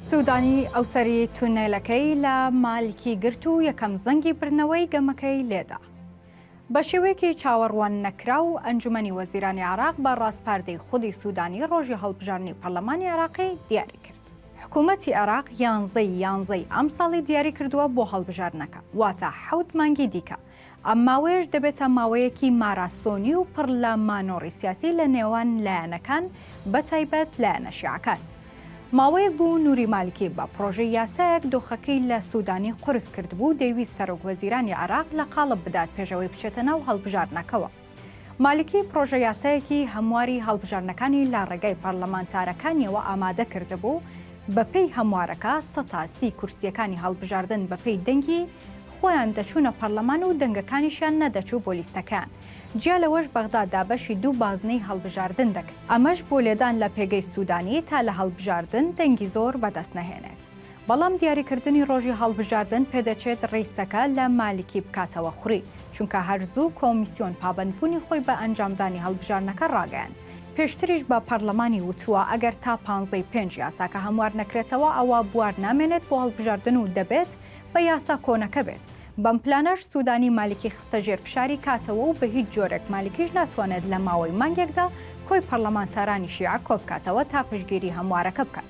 سوودانی ئەوسەری تونێلەکەی لە مالکی گرت و یەکەم زەنگی بردنەوەی گەمەکەی لێدا. بە شێوەیەکی چاوەڕوان نەکراو، ئەنجومەنی وەزیرانی عێراق بە ڕاسپاردەی خودی سوودانی ڕۆژی هەڵبژاردنی پەرلەمانی عێراقی دیاری کرد. حکوومەتی عێراق یانزەی یانزەی ئەمساڵی دیاری کردووە بۆ هەڵبژاردنەکە، واتە حەوت مانگی دیکە ئەم ماوەیەش دەبێتە ماوەیەکی ماراسۆنی و پڕ لە مانۆڕی سیاسی لە نێوان لایەنەکان بە تایبەت لایەنە شیعەکان. ماوەیەک بوو نوری مالکی بە پڕۆژەی یاسایەک دۆخەکەی لە سوودانی قورس کردبوو و دەیویست سەرۆک وەزیرانی عێراق لە قاڵب بدات پێشەوەی بچێتە ناو هەڵبژاردنەکەوە. مالکی پڕۆژە یاسایەکی هەمواری هەڵبژاردنەکانی لە ڕێگای پەرلەمانتارەکانیەوە ئامادە کردبوو، بەپێی هەموارەکە سەتا سی کورسییەکانی هەڵبژاردن بەپێی دەنگی خۆیان دەچوونە پەرلەمان و دەنگەکانیشیان نەدەچوو بۆ لیستەکەیان، جیا لەوەش بەغدا دابەشی دوو بازنەی هەڵبژاردن دەکرد. ئەمەش بۆ لێدان لە پێگەی سوودانی تا لە هەڵبژاردن دەنگی زۆر بەدەست نەهێنێت. بەڵام دیاریکردنی ڕۆژی هەڵبژاردن پێدەچێت ڕیسەکە لە مالکی بکاتەوە خوری، چونکە هەر زوو کۆمیسیۆن پابەندبوونی خۆی بە ئەنجامدانی هەڵبژاردنەکە ڕاگەیاند، پێشتریش بە پەرلەمانی وتووە ئەگەر تا پانزەی ی پێنج یاساکە هەموار نەکرێتەوە ئەوا بوار نامێنێت بۆ هەڵبژاردن و دەبێت بە یاسا کۆنەکە بێت، بەم پلانەش سوودانی مالکی خستە ژێر فشاری کاتەوە و بەهیچ جۆرێک مالکیش ناتوانێت لە ماوەی مانگێکدا کۆی پەرلەمانتارانی شیعە کۆبکاتەوە تا پشتگیری هەموارەکە بکات.